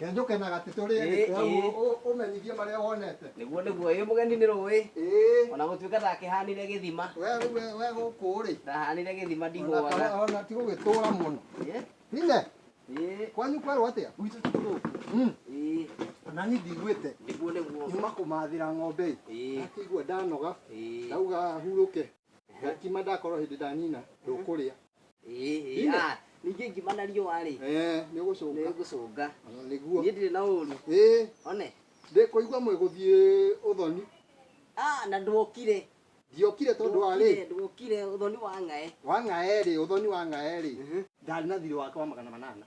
Kenjũkenaga atĩ tũrĩe Ĩĩ, gĩtĩ hau ĩĩ. ũ- ũ- ũmenyithie marĩa wonete. nĩguo nĩguo ĩ mũgeni nĩ rũĩ Ĩĩ. ona gũtuĩka ndakĩhanire gĩthima We rĩu we- we gũkũ rĩ. ndahanire gĩthima Ona ndihũaga ta- ona ti gũgĩtũra mũno. Ĩ, Hine, ĩ, kwanyu kwerwo atĩa? gwitũ ti gũkũ Mm. Ĩ, Na niĩ ndiguĩte. nĩguo nĩguo Nyuma kũmathĩra ng'ombe. ĩ, Ĩ. Akĩigua ndanoga. ĩ. Ndauga hurũke. Ngima ndakorwo hĩndĩ ndanina ndũkũrĩa. Ĩĩ, ah, ningĩ ngima na riũa-rĩ, Eh, nĩ ũgũcũnga. nĩngũcũnga. Ona nĩguo. Niĩ ndirĩ na ũru. Ĩĩ, One. ndĩ kũigua mwĩgũthiĩ ũthoni. Ah, na ndwokire. Ndiokire tondũ wa rĩ? Ndwokire, ndwokire, ũthoni wa ng'aĩ. Wa ng'aĩ-rĩ, ũthoni wa ng'aĩ-rĩ, ndarĩ na thiirĩ wake wa magana manana.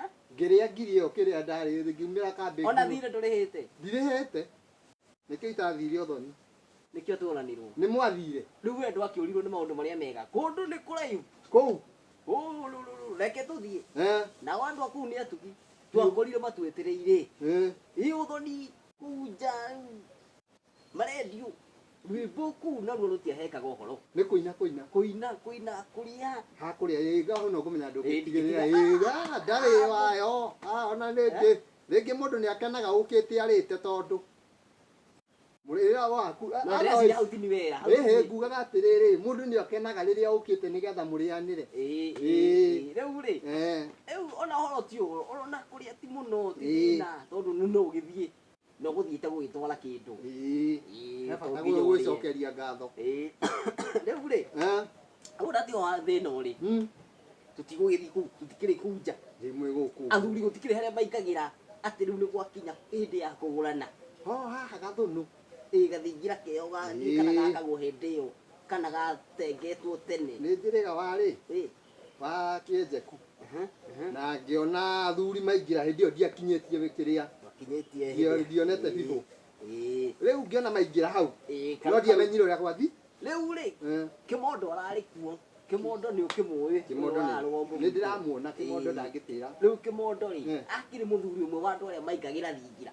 Eh? ngĩrĩa ngiri ĩyo kĩrĩa ndarĩ ngiumĩra kambĩ ona thiirĩ ndũrĩhĩte ndirĩhĩte nĩkĩo itathire ũthoni nĩkĩo tworanirwo nĩ mwathire rĩu we ndwakĩũrirwo nĩ maũndũ marĩa mega kũndũ nĩ kũraihu kũu Ũũrũrũrũ, reke tũthiĩ eh, nao andũ a kũu nĩ atugi twakorire matwĩtĩrĩire eh. ĩ ũthoni kũu nja Marendiũ, rwĩmbo kũu naruo rũtiahekaga ũhoro. Nĩ kũina kũina. Kũina kũina kũrĩa. Ha kũrĩa ĩga ona ũkũmenya ndũngĩtigĩrĩra ĩga ndarĩ wayo. Ha ona rĩngĩ rĩngĩ mũndũ nĩ akenaga ũkĩte arĩte tondũ mũrĩra waku. Ĩhĩ ngugaga atĩrĩrĩ mũndũ nĩ akenaga rĩrĩa ũkĩte nĩgetha mũrĩanĩre. Rĩu rĩ rĩu ona ũhoro ti ũhoro ona kũrĩa ti mũno ti thĩna tondũ nĩ ũgĩthiĩ. na ũgũthiĩte gũgĩtwara kĩndũ Ĩĩ. Ĩĩ, He to bata nginya gũgĩ- ũrĩe. gwĩcokeria ngatho Ĩĩ. rĩu rĩ Eh, ũrĩa ti wa thĩna ũrĩ mm, tũtigũgĩthiĩ kũu tũtikĩrĩ kũu nja ndĩ mwĩ gũkũ athuri gũtikĩrĩ harĩa maingagĩra atĩ rĩu nĩ gwakinya hĩndĩ ya kũgũrana ho haha gathũnũ ĩ gathingira keo ga- Ĩĩ. kana gakagwo hĩndĩ ĩyo kana gatengetwo tene nĩ njĩrĩga warĩ Ĩĩ. wa kĩenjeku na ngĩona athuri maingĩra hĩndĩ ĩyo ndiakinyĩtie wĩkĩrĩa Wakinyĩtie Ndio- hĩndĩ- ndionete bibũ. Ĩĩ, rĩu ngĩona maingĩra hau ĩĩ, no kana- ndiamenyire ũrĩa gwathi rĩu rĩ Eh, kĩmondo ararĩ kuo kĩmondo nĩ ũkĩmũĩ kĩmondo ũrĩa warũa mũgitĩra. nĩ ndĩramuona kĩmondo Ĩĩ. ndangĩtĩra rĩu kĩmondo rĩ Eh. akĩrĩ mũthuri ũmwe wa andũ arĩa maingagĩra thingira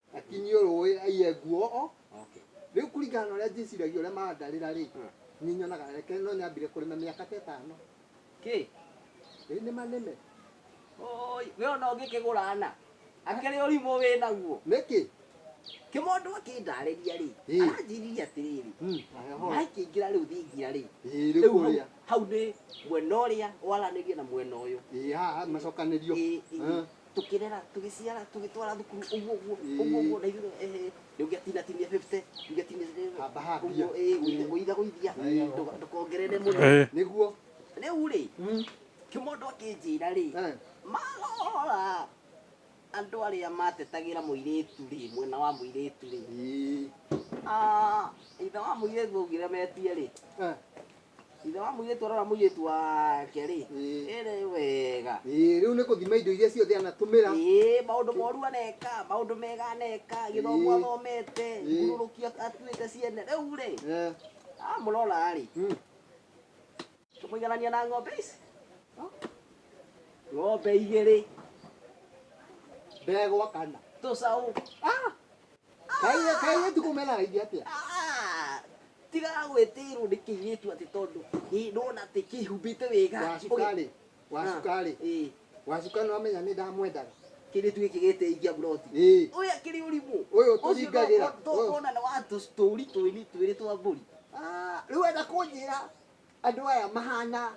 Akinyio rũĩ aiye nguo o Okay. rĩu kũringana na ũrĩa njĩciragia ũrĩa mandarĩra rĩ Mm. niĩ nyonaga reke no nyambire kũrĩma mĩaka ta ĩtano Kĩ? ĩ nĩma nĩme Oi, we ona ũngĩkĩgũra na. Akĩrĩ ũrimũ wĩ naguo. nĩkĩ Kĩmondo akĩndarĩria rĩ. Ĩ. Aranjĩririe atĩrĩrĩ. Mm, ahe hora. Maĩ kĩingĩra rĩu thingira rĩ. Ĩ, rĩu Rĩu hau- kũrĩa hau nĩ mwena ũrĩa waranĩria na mwena ũyũ. ĩ haha macokanĩrio Ĩ, ĩ. Eh. tukirera tugiciara tugitwara thukuru uguo uguo uguo uguo na ithuĩ eh rĩu ngĩatina tinia 50 ngĩatina Hamba hambia. uguo eh gũitha gũithia ndũka- ndũkongerere mũno Eh. nĩguo rĩu rĩ Mm. kĩmondo akĩnjĩra rĩ Eh. marora andũ arĩa matetagĩra mũirĩtu rĩ mwena wa mũirĩtu rĩ Ĩĩ. Ah, ithe wa mũirĩtu augire metie rĩ Eh. ithe wa mũirĩtu arora mũirĩtu wake rĩ Ĩĩ. ĩrĩ wega Ĩĩ, rĩu nĩ kũthima indo iria ciothe anatũmĩra Ĩĩ, maũndũ moru aneka maũndũ mega aneka gĩthomo Ĩĩ. athomete Ĩĩ. ngurũrũki atuĩte ciene rĩu rĩ Eh, amũrora rĩ mm. tũmũiganania na ng'ombe ici ng'ombe igĩrĩ ndegwa kana tũcaũ Ah! Kaire kaire ndikumela hivi hapa. Ah, tiga gwĩtĩirwo nĩ kĩirĩtu atĩ tondũ ĩ, ndona atĩ kĩhumbĩte wega Wa cukari. Wa Ah, cukari. ĩ, Wa cukari no amenya nĩ ndamwendaga. kĩirĩtu gĩkĩ gĩtĩikia mburoti Ĩ. ũyũ akĩrĩ ũrimũ Ũyũ tũringagĩra. Ũyũ. tũkona nĩ wa tũ- tũũri twĩni twĩrĩ twa mbũri Ah, Rĩu enda kũnjĩra Andũ aya mahana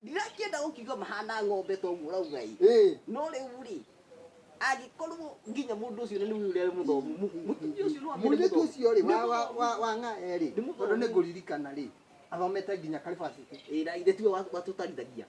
ndirakĩenda gũkiuga mahana ng'ombe to ũguo ũrauga ĩ Ĩ. no rĩu rĩ angĩkorwo nginya mũndũ ũcio nĩ nĩwe ũrĩa mũthomu mu- mũtumia ũcio no amere mũirĩtu mũthomu. ũcio rĩ Nĩ wa- wa- mũthomu. wa- wa ng'a erĩ Nĩ mũthomu. tondũ nĩ ngũririkana rĩ athomete nginya karibacĩtĩ Ĩ, na ithe tiwe wa- watũtarithagia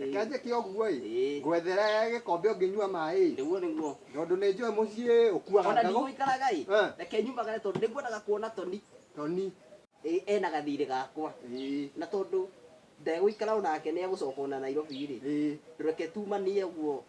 Reke njĩke ũguo-ĩ, Ĩĩ. ngwethere gĩkombe ũngĩnyua maĩ-ĩ, Nĩguo nĩguo. tondũ nĩ njũĩ mũciĩ ũkuaga Ona ndago. ndigũikaraga-ĩ, Eh. reke nyumagare tondũ nĩngwendaga kuona Toni Toni, ĩ, ena gathiirĩ gakwa. ĩĩ, Na tondũ ndegũikara onake nĩegũcoka ona Nairobi-rĩ, ĩĩ. reke tumanie ũguo.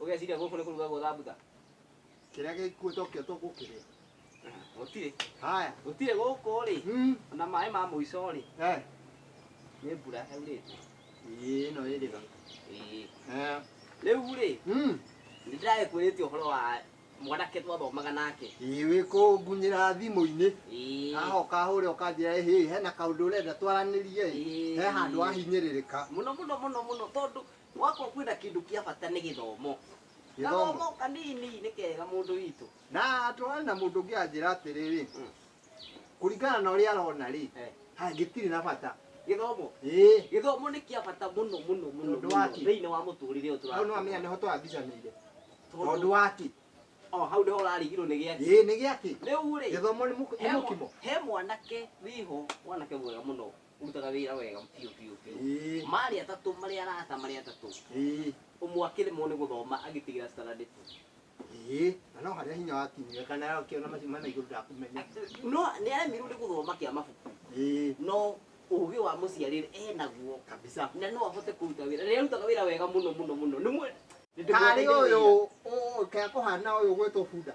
Ũgeciria gũkũ nĩ kũrugagwo thambutha? Kĩrĩa gĩkuũ tokĩo tũgũkĩrĩa. Gũtirĩ. Haya. Gũtirĩ gũkũ rĩ. Mm. Na maĩ ma mũico rĩ. Eh. Nĩ mbura yaurĩte. Ĩĩ ĩno ĩrĩ tha. Ĩĩ. Eh. Rĩu rĩ. Mm. Nĩ ndĩrakwĩrĩte ũhoro wa mwanake twathomaga nake wĩkũngunyĩra thimũ-inĩ ahoka hũre ũkanjĩra hĩ hena kaũndũ ũrenda twaranĩrie he handũ ahinyĩrĩrĩka mũno mũno mũno mũno tondũ Gwakwa kwĩna kĩndũ kĩa bata nĩ gĩthomo. Gĩthomo. Gathomo kanini nĩ kega mũndũ witũ. Na twarĩ na mũndũ ũngĩ anjĩra atĩrĩrĩ, Mm. kũringana na ũrĩa arona rĩ, Eh. ha gĩtirĩ na bata. Gĩthomo. Ĩĩ, Gĩthomo nĩ kĩa bata mũno mũno mũno Tondũ mũno waki. thĩinĩ wa mũtũrĩre ũyũ hau no tũratũũra. amenya nĩho twambicanĩire. Tondũ Tondũ wa kĩ? o hau nĩho ũrarigirwo nĩ gĩake. Ĩĩ, nĩ gĩa kĩ? Rĩu rĩ, Gĩthomo nĩ mũk- nĩ he mwa- mũkimo. he mwanake wĩho, mwanake mwega mũno ũrutaga wĩra wega biũ biũ biũ Ĩĩ. marĩ atatũ marĩ arata marĩ atatũ Ĩĩ. ũmwe akĩremwo nĩ gũthoma agĩtigĩra standard two Ĩĩ. Na no harĩa hinya wakinyire kana akĩona macio mena igũrũ ndakũmenya. no nĩ aremirwo nĩ gũthoma kĩa mabuku Ĩĩ. no ũgĩ wa mũciarĩre enaguo Kabisa. na no ahote kũruta wĩra rĩrĩa arutaga wĩra wega mũno mũno mũno nĩ mwe Karĩ ũyũ ũũ kaya kũhana ũyũ gwĩtwo bunda.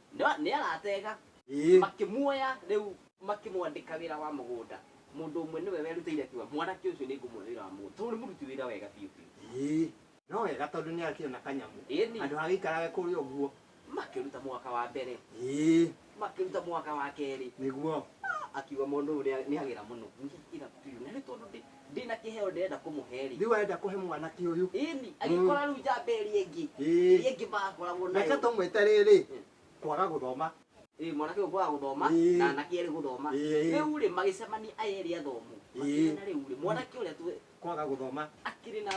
Nĩ nĩ arateega. Ĩĩ. Makĩmuoya rĩu makĩmwandĩka wĩra wa mũgũnda. Mũndũ ũmwe nĩwe werutĩire akiuga, 'Mwanake ũcio nĩngũmuoya wĩra wa mũgũnda, tondũ nĩ mũruti wĩra wega biũ biũ. Ĩĩ. No wega tondũ nĩ akĩona kanyamũ. Ĩĩni. Handũ ha gĩikarage kũrĩa ũguo. Makĩruta mwaka wa mbere. Ĩĩ. Makĩruta mwaka wa kerĩ. Nĩguo. Akiuga mũndũ ũyũ nĩ agĩra mũno. Ningĩ akiuga, 'Nĩ tondũ ndĩ. Ndĩ na kĩheo ndĩrenda kũmũhe rĩ. Rĩu arenda kũhe mwanake ũyũ. Ĩni, agĩkora rĩu njamba ĩrĩa ĩngĩ. Ĩĩ. Ĩrĩa ĩngĩ makoragwo nayo. Reke tũmwĩte rĩrĩ, kwaga gũthoma. Ĩĩ, mwanake ũyũ kwaga gũthoma, Ĩĩ. na anake erĩ gũthoma. Ĩĩ. Rĩu rĩ, magĩcemania aya erĩ athomu. Ĩĩ. Makĩmenya rĩu rĩ, mwanake ũrĩa tũ- Kwaga gũthoma. akĩrĩ na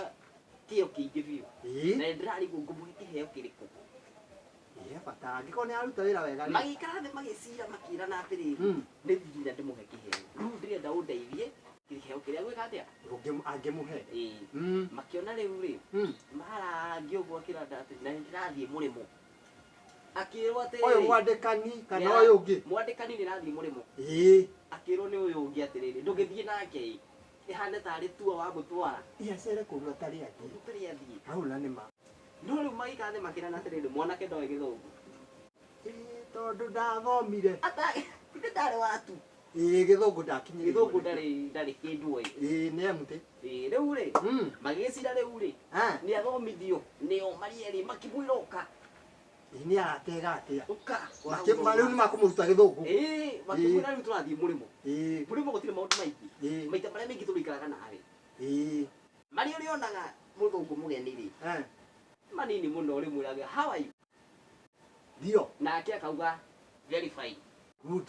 kĩo kĩingĩ biũ. Ĩĩ. Na nĩndĩrarigwo ngũmũhe kĩheo kĩrĩkũ. he bata angĩkorwo nĩ aruta wĩra wega rĩ magĩikara thĩ magĩcira makĩrana atĩrĩ Mm. nĩ thigina ndĩmũhe kĩheo rĩu ndĩrenda ũndeithie kĩheo kĩrĩa gwĩka atĩa Ũngĩm- angĩmũhe Ĩĩ. Mm, makĩona rĩu rĩ mm. marangi ũguo akĩranda atĩ na ndĩrathiĩ mũrĩmo akĩrwo atĩ ũyũ mwandĩkani kana Nĩara- ũyũ ũngĩ mwandĩkani nĩrathiĩ mũrĩmo ĩĩ akĩrwo nĩ ũyũ ũngĩ atĩrĩrĩ ndũgĩthiĩ nake ĩ ĩhane tarĩ tuo wa mũtwara. Iacere kũndũ atarĩ athiĩ. Kũndũ ũtarĩ athiĩ. Hau na nĩ ma. No rĩu magĩkathĩ makĩrana atĩrĩrĩ, mwanake ndoĩ gĩthũngũ. Ĩĩ tondũ ndathomire. Ata, ithe ndarĩ wa tu. Ĩĩ gĩthũngũ ndakinyĩrĩirwo. Gĩthũngũ ndarĩ, ndarĩ kĩndũ oĩ. Ĩĩ nĩ amu tĩ. Ĩĩ rĩu rĩ, magĩgĩcira rĩu rĩ, nĩ athomithio nĩo marĩ erĩ makĩmwĩra oka. Ĩ, nĩ aratega atĩa Ũka. Makĩ- ma- rĩu nĩ makũmũruta gĩthũngũ Ĩĩ, makĩmwĩra rĩu tũrathiĩ mũrĩmo. Ĩĩ, Mũrĩmo gũtirĩ maũndũ maingĩ. ĩĩ, Maita marĩa maingĩ tũrĩikaraga nawe. ĩĩ, Marĩa ũrĩonaga mũthũngũ mũgeni-rĩ, eh, nĩ manini mũno ũrĩmwĩraga how are you? ndio Nake akauga very fine. good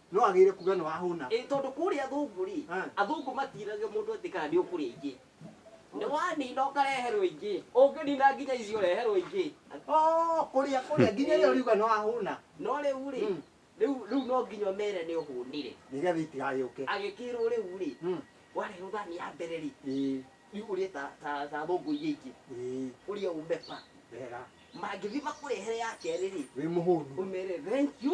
No agĩire kuga nĩ wahũna. Ĩĩ tondũ kũrĩa athũngũ rĩ, Ah. athũngũ matiragia mũndũ atĩ kana nĩ ũkũrĩa ingĩ. Nĩ wanina ũkareherwo ingĩ. Ũngĩnina nginya icio ũreherwo ingĩ. Oh, kũrĩa kũrĩa nginya ĩrĩa ũriuga nĩ wahũna. No rĩu rĩ, Mm. rĩu rĩu no nginya ũmere nĩ ũhũnire. Nĩgetha itigagĩũke. Agĩkĩrwo rĩu rĩ, Mm. wareherwo thani ya mbere rĩ, Ĩĩ, rĩu ũrĩe ta ta ta thũngũ iria ingĩ. ĩĩ, Ũrĩe ũmeba. wega. Mangĩthiĩ makũrehere ya kerĩ rĩ, Wĩ mũhũnu. ũmere thank you.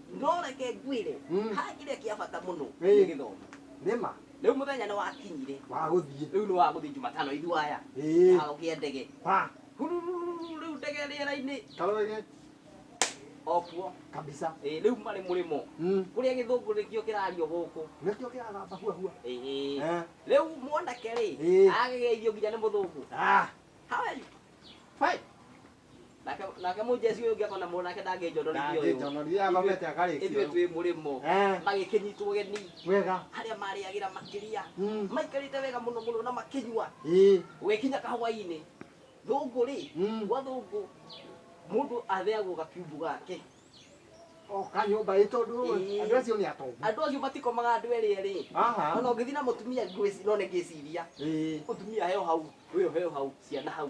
no reke ngwĩre Mm. ha kĩrĩa kĩa bata mũno Ĩ. nĩ gĩthomo nĩma rĩu mũthenya nĩ wakinyire wagũthiĩ rĩu nĩ wa gũthiĩ jumatano ithuaya Ĩ. kĩharo kĩa ndege wa Hurururu, rĩu ndege rĩera-inĩ karoge okuo kabisa Ĩ, rĩu marĩ mũrĩmo Mm. kũrĩa gĩthũngũ nĩkĩo kĩrario gũkũ nĩkĩo kĩragamba huahua Ĩ, ĩ. Eh. rĩu mwanake rĩ Ĩ. agĩgeithio nginya nĩ mũthũngũ Ah, how are you Fine. nake nake mũnjeci ũyũ ũngĩ akona mũndũ nake ndangĩnjonoria ũyũ ndangĩnjonoria athomete akarĩkia ithuĩ ũyũ. twĩ mũrĩmo Eh. magĩkĩnyitwo ũgeni wega harĩa marĩagĩra makĩria Mm. maikarĩte wega mũno mũno na makĩnyua ĩ gũgĩkinya kahwainĩ thũngũ rĩ Mm. gwa thũngũ mũndũ atheagwo gakiumbu gake o kanyũmba ĩ tondũ Ĩ. andũ acio nĩ atongu andũ acio matikomaga andũ erĩ erĩ Aha. ona ũngĩthiĩ na mũtumia ngwĩci- none ngĩciria ĩ mũtumia heo hau ũyũ heo hau ciana hau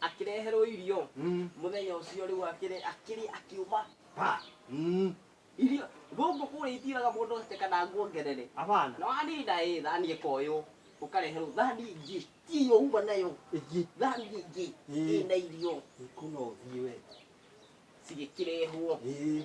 akĩreherwo irio Mm. mũthenya ũcio rĩu akĩrĩ akĩrĩ akiuma pa Mm. irio gũkũ kũrĩa itiraga mũndũ atĩ kana nguongerere Abana. na wanina ĩ thani ĩkoywo ũkareherwo thani ingĩ tiyo uma nayo Igi. thani ingĩ Mm. ĩna irio Ikuna uthiwe. cigĩkĩrehwo Ii.